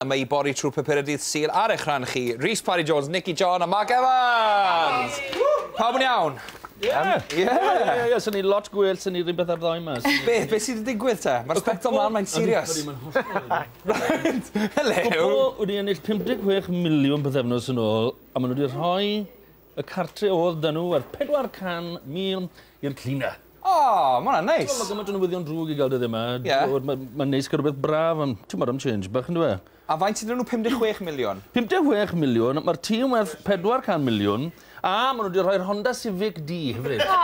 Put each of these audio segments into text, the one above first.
Yma i bori trwy papurau dydd Sul ar eich rhan chi, Rhys Parry Jones, Nicky John a Mark Evans! Pawb yn iawn? Ie! Ie! Ie, ie, swn i lot gwell swn i rhywbeth ar ddoe yma. Be, be sydd wedi digwydd te? Mae'r sbectol mlaen, mae'n serious. Ydy, mae'n hollol... Hello! Cwpl wedi ennill 56 miliwn pythefnos yn ôl, a maen nhw wedi rhoi Y cartre odd da nhw yr 400 mil i'r cleaner. O! Ma hwnna'n neis. T'mo' ma' gymaint o newyddion drwg i ga'l dyddie ma'. Ie. T'mod ma' ma'n neis ca'l rwbeth braf am t'mod am change bach on'd yw e? A faint ydyn nhw 56 miliwn? 56 miliwn, ma'r tŷ yn werth 400 miliwn, a ma' nhw 'di rhoi'r Honda Civic di hefyd. O!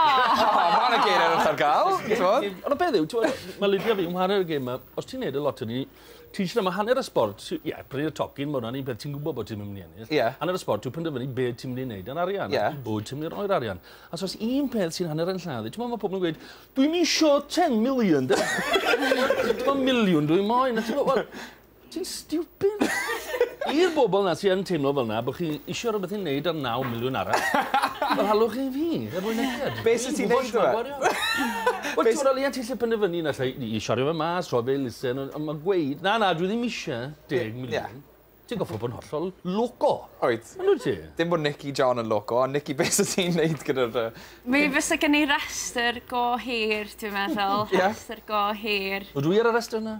O ma' na geiriadull ar ga'l t'mod? Ond y peth yw t'mod ma' Lydia fi'n chware'r gêm 'ma, os ti'n neud y loteri Ti'n siarad, mae hanner y sport, ie, yeah, prynu y tocyn, mae hwnna'n un peth ti'n gwybod bod ti'n mynd i ennill. Yeah. Hanner y sport, ti'n penderfynu beth ti'n mynd i wneud ar arian, yeah. bod ti'n mynd i roi'r arian. A so un peth sy'n hanner yn lladd, ti'n meddwl mae pobl yn gweud, dwi'n isio 10 million, dwi'n miliwn dwi'n moyn. Ti'n stupid. I'r bobl na sy'n teimlo fel na, bod chi eisiau rhywbeth i'n neud ar 9 miliwn arall, fel halwch chi fi, er mwyn eithaf. Be sy'n ti'n neud o? Wel t'mod o leia ti 'llu penderfynu na 'llai ni i siario fe mas rhoi fe i elusen on' on' ma' gweud na na dwi ddim isie deg miliwn. Ie. Ti'n goffod bod yn hollol loco. Wyt. Yndwt ti? Dim bo' Nicky John yn loco ond Nicky be' sa ti'n neud gyda'r yy... Mi fysa gen i restyr go hir dwi'n meddwl. Ie? Restyr go hir. Ydw i ar y restyr 'na?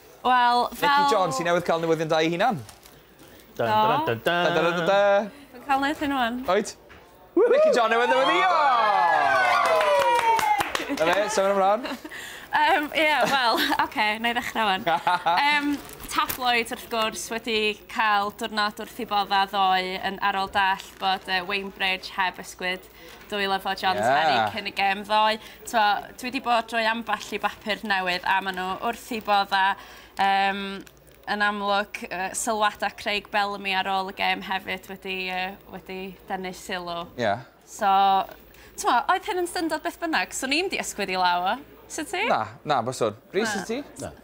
Wel, fel... Mici John sy newydd cael newyddion da ei hunan. Do. Dwi'n cael neud hyn wan. Wyt? Mici John newydd newyddio! Na fe, symud ymlaen. Um, ie, yeah, wel, oce, okay, na i ddechrau fan. Um, tabloid, wrth gwrs, wedi cael diwrnod wrth i bodda ddoe yn arol dall bod uh, Wainbridge heb ysgwyd Dwy lyfo John's yeah. Penny cyn y gem ddoe. Twa, dwi wedi bod drwy ambell i bapur newydd a maen nhw wrth i bodda um, yn amlwg uh, sylwada Craig Bellamy ar ôl y gem hefyd wedi, uh, wedi denu sylw. Ie. Yeah. So, twa, oedd hyn yn syndod beth bynnag, so ni'n di ysgwyd i law o. Sut ti? Na, na, byswn. Rhys, sut ti? Na.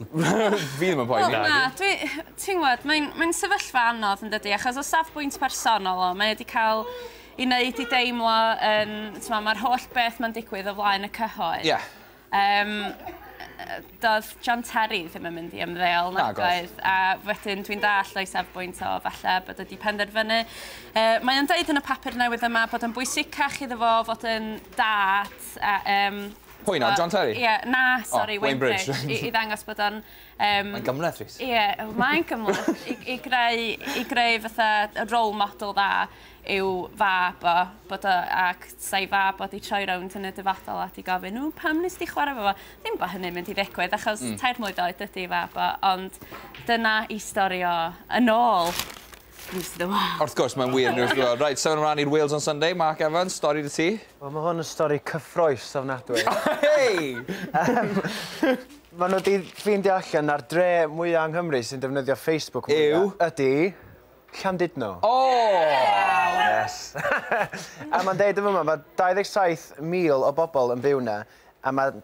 Fi ddim yn poeni. Wel na, dwi... ti'n gwybod, mae'n mae sefyllfa anodd yn dydy, achos o safbwynt personol o, mae wedi cael i wneud i deimlo yn... Um, Mae'r holl beth mae'n digwydd o flaen y cyhoedd. Ie. Yeah. Um, doedd John Terry ddim yn mynd i ymddeol na doedd. A wedyn dwi'n dall o'i safbwynt o falle bod wedi penderfynu. Uh, mae o'n dweud yn y papur newydd yma bod yn bwysicach iddo fo fod yn dad a, um, Pwy nawr, John Terry? Ie, na, sori, oh, Wayne Bridge. I, I ddangos bod o'n... Um, mae'n gymleth, Rhys. Ie, mae'n gymleth. I, I, greu, I greu fatha role model dda yw fab o, bod o, ac sa'i fab o di troi rownd yn y dyfodol a di gofyn, nhw, pam nes di chwarae fo fo? Ddim bod hynny'n mynd i ddigwydd, achos mm. tair mlwydd oed ydi fab o, ond dyna i stori o yn ôl. Neis iddo fe. Wrth gwrs mae'n wir neis iddo fe. Reit, symud ymlaen i'r Wales on Sunday. Mark Evans, stori 'da ti? Wel ma' hwn yn stori cyffrous ofnadwy. Hei! Yym ma' nhw 'di ffeindio allan na'r dre mwya yng Nghymru sy'n defnyddio Facebook mwya... Yw? ...ydi Llandudno. O! Waw! Yes. A ma'n deud yn fyma ma' 27,000 o bobol yn byw 'na a ma'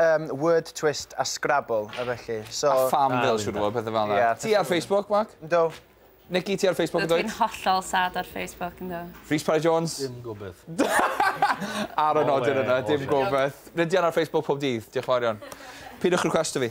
Yym, word twist a scrabble a felly, so... A pham fel siŵr o fod, pethe fel 'na. Ti ar Facebook, Mark? Yndw. Nikki, ti ar Facebook yn dwyt? Dwi'n hollol sad ar Facebook, yndw. Rhys Parry Jones? Dim gobeth. Ar y nodyn yna, dim gobeth. Rydyan ar Facebook pob dydd, diolch yn fawr iawn. Peidiwch requesto fi.